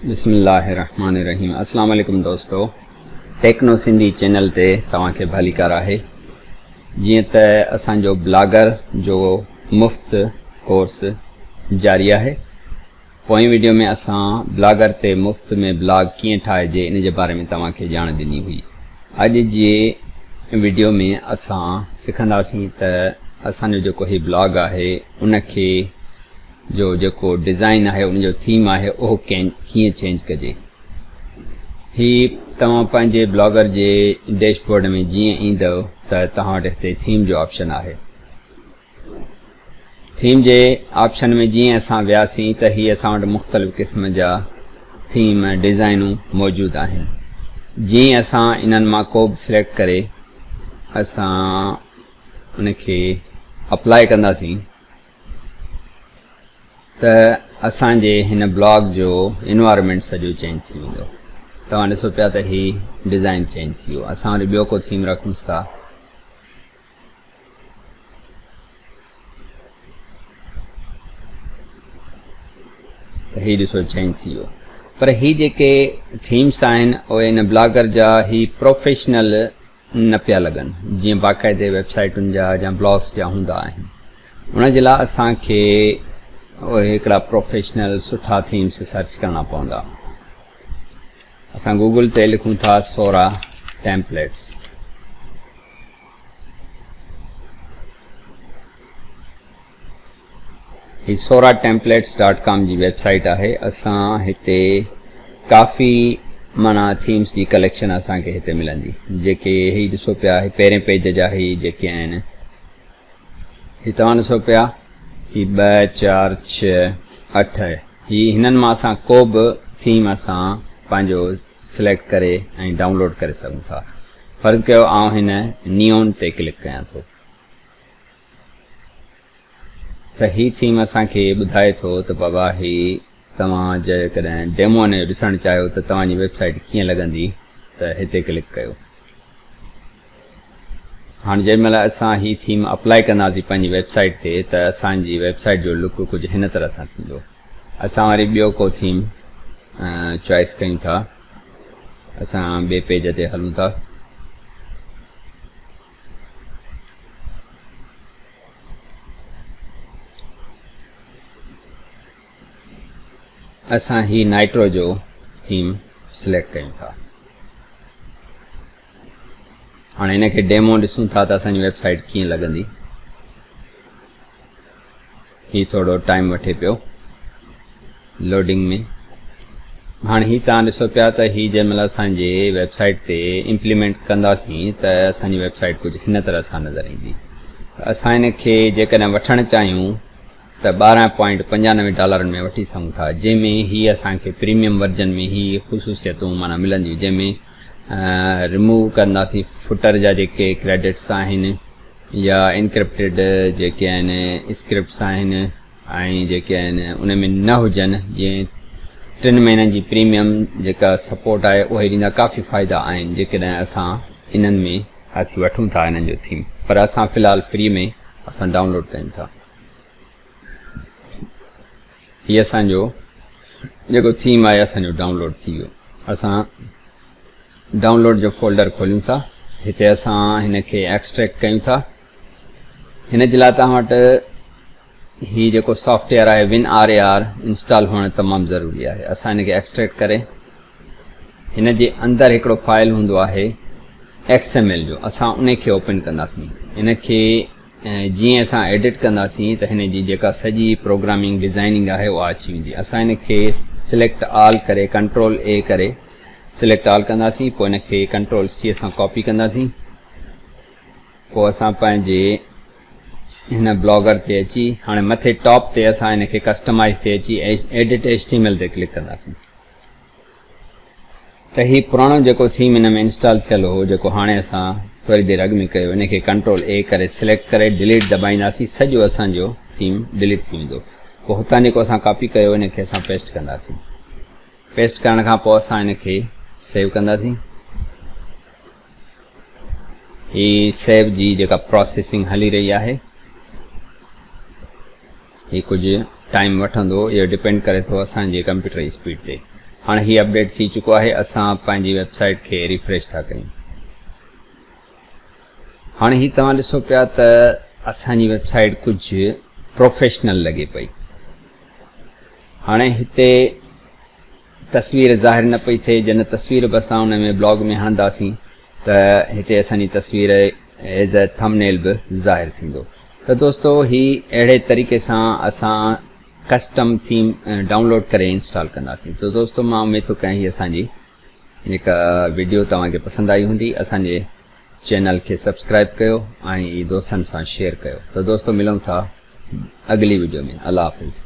بسم الله الرحمن الرحيم اسلام عليڪم دوستو ٽيڪنو سنڌي چينل تي توهان کي ڀليڪار آهي جيئن ته اسان جو بلاگر جو مفت ڪورس جاري آهي پوئين ويڊيو ۾ اسان بلاگر تي مفت ۾ بلاگ ڪيئن ٺاهجي ان جي باري ۾ توهان کي ڄاڻ ڏني هئي اڄ جي ويڊيو ۾ اسان سکنداسين ته اسان جو جيڪو هي بلاگ آهي ان کي جو جيڪو ڊزائين آهي ان جو ٿيم آهي اهو ڪين ڪيئن چينج ڪجي هي توهان پنهنجي بلاگر جي ڊيش بورڊ ۾ جيئن ايندو ته توهان وٽ هتي ٿيم جو آپشن آهي ٿيم جي آپشن ۾ جيئن اسان وياسين ته هي اسان وٽ مختلف قسم جا ٿيم ڊزائنون موجود آهن جيئن اسان انهن مان ڪو به سليڪٽ ڪري اسان ان کي اپلائي ڪنداسين ته اسان جي هن بلاگ جو انوائرمينٽ سڄو چينج ٿي ويندو توهان ڏسو پيا ته هي ڊيزائن چينج ٿي ويو اسان وري ٻيو ڪو ٿيم رکونس ٿا ته هي ڏسو چينج ٿي ويو پر هي جيڪي ٿيمس آهن اهي ان بلاگر جا هي پروفيشنل نه پيا لڳن جيئن باقاعدي ويب سائيٽن جا يا بلاگس جا هوندا آهن ان جي لاء اسان کي اهي هڪڙا پروفيشنل سٺا ٿيمس سرچ ڪرڻا پوندا اسان گوگل تي لکون ٿا سورا ٽيمپليٽس هي سورا ٽيمپليٽس ڊاٽ ڪام جي ويب سائيٽ آهي اسان هتي ڪافي معنيٰ ٿيمس جي ڪليڪشن اسان کي هتي ملندي جيڪي هي ڏسو پيا هي پهرين پيج جا هي جيڪي آهن هي توهان ڏسو پيا هي ٻه چار ڇهه اٺ هي هنن مان اسان ڪو به ٿيم اسان پنهنجو سليڪٽ ڪري ۽ ڊائونلوڊ ڪري سگهون ٿا فرض ڪيو آئون هن نيون تي ڪلڪ ڪيان ٿو ته هي ٿيم اسان کي ٻڌائي ٿو ته بابا هي توهان جيڪڏهن ڊيمو هن جو ڏسڻ چاهيو ته توهان جي ويب سائيٽ ڪيئن لڳندي ته هتي ڪلڪ ڪيو. هاڻ جنهن مهل اسان هي ٿيم اپلائي ڪنداسين پنهنجي ويب سائيٽ تي ته اسان جي ويب سائيٽ جو لڪ ڪجهه هن طرح سان ٿيندو. اسان وري ٻيو ڪو ٿيم چوائس ڪيون ٿا اسان ٻي پيج تي هلون ٿا اسان هي نائٽرو جو ٿيم سليڪٽ ڪيون ٿا هاڻي هن کي ڊيمو ڏسون ٿا ته اسانجي ويب سائيٽ ڪيئن لڳندي هي ٿورو ٽائيم وٺي پيو لوڊنگ ۾ هاڻي هي توهان ڏسو پيا ته هي جنهن مهل اسان جي ويب سائيٽ تي امپليمينٽ ڪنداسين ته اسان جي ويب سائيٽ ڪجهه هن طرح سان نظر ايندي اسان ان کي جيڪڏهن وٺڻ چاهيون ته ٻارهن پوائنٽ پنجانوي ڊالرن ۾ وٺي سگهون ٿا جنهن ۾ هي اسان کي پريميم ورجن ۾ هي خصوصيتون مانا ملنديون جنهن ۾ رموو ڪنداسين فٽر جا جيڪي ڪريڊٽس آهن يا انڪرپٽيڊ جيڪي آهن اسڪرپٽس آهن ۽ جيڪي آهن ان ۾ نه هجن جيئن ٽن مهينن جي پريميم جيڪا سپورٽ آهي اهي ڏيندا ڪافي فائدا آهن جيڪڏهن اسان انهن ۾ اسين وٺون ٿا انهن جو ٿيم پر اسان في الحال فري ۾ اسان ڊائونلوڊ ڪيون ٿا. هي اسان جو جيڪو ٿيم آهي اسان جو ڊائونلوڊ ٿي ويو اسان ڊائونلوڊ جو فولڊر کوليون ٿا هتي اسان هن کي ايڪسٽريڪٽ ڪيون ٿا هن جي لاء توهان وٽ هي جيڪو سافٽ ويئر آهي win R A R install هئڻ تمام ضروري آهي اسان هن کي ايڪسٽريڪٽ ڪري هن جي اندر هڪڙو فائل هوندو آهي ایڪس ايم ايل جو اسان ان کي اوپن ڪنداسين ان کي ۽ جيئن اسان ايڊٽ ڪنداسين ته هن جي جيڪا سڄي پروگرامنگ ڊزائننگ آهي اها اچي ويندي اسان هن کي سليڪٽ آل ڪري ڪنٽرول اي ڪري سليڪٽ آل ڪنداسين پوء هن کي ڪنٽرول سي سان ڪاپي ڪنداسين پوء اسان پنهنجي هن بلاگر تي اچي هاڻي مٿي ٽاپ تي اسان هن کي ڪسٽمائز تي اچي edit H T M L تي ڪلڪ ڪنداسين ته هي پراڻو جيڪو ٿيم ان ۾ انسٽال ٿيل هو جيڪو هاڻي اسان ٿوري دير اڳ ۾ ڪيو ان کي ڪنٽرول اي ڪري سليڪٽ ڪري ڊليٽ دٻائينداسين سڄو اسان جو ٿيم ڊليٽ ٿي ويندو پوء هتان جيڪو اسان ڪاپي ڪيو ان کي اسان پيسٽ ڪنداسين پيسٽ ڪرڻ کان پوء اسان ان کي سيو ڪنداسين هي سيو جي جيڪا پروسيسنگ هلي رهي آهي هي ڪجهه ٽائيم وٺندو اهو ڊپينڊ ڪري ٿو اسان جي ڪمپيوٽر جي اسپيڊ تي هاڻي هي اپڊيٽ ٿي چڪو آهي اسان پنهنجي ويب سائيٽ کي ريفريش ٿا ڪيون هاڻي هي توهان ڏسو پيا ته اسان جي ويب سائيٽ ڪجهه پروفيشنل لڳي پئي هاڻي هتي تصوير ظاهر نه پئي ٿئي جنھن تصوير به اسان ان ۾ بلاگ ۾ هڻنداسين ته هتي اسان جي تصوير As a Thumbnail به ظاهر ٿيندو ته دوستو هي اهڙي طريقي سان اسان ڪسٽم ٿيم ڊائونلوڊ ڪري انسٽال ڪنداسين ته دوستو مان اميد ٿو ڪيان هي اسان جي هڪ ويڊيو توهان کي پسند آئي هوندي اسان جي چينل کي سبسڪرائب ڪيو ۽ دوستن سان شيئر ڪيو ته دوستو ملون ٿا اڳلي ويڊيو ۾ الله حافظ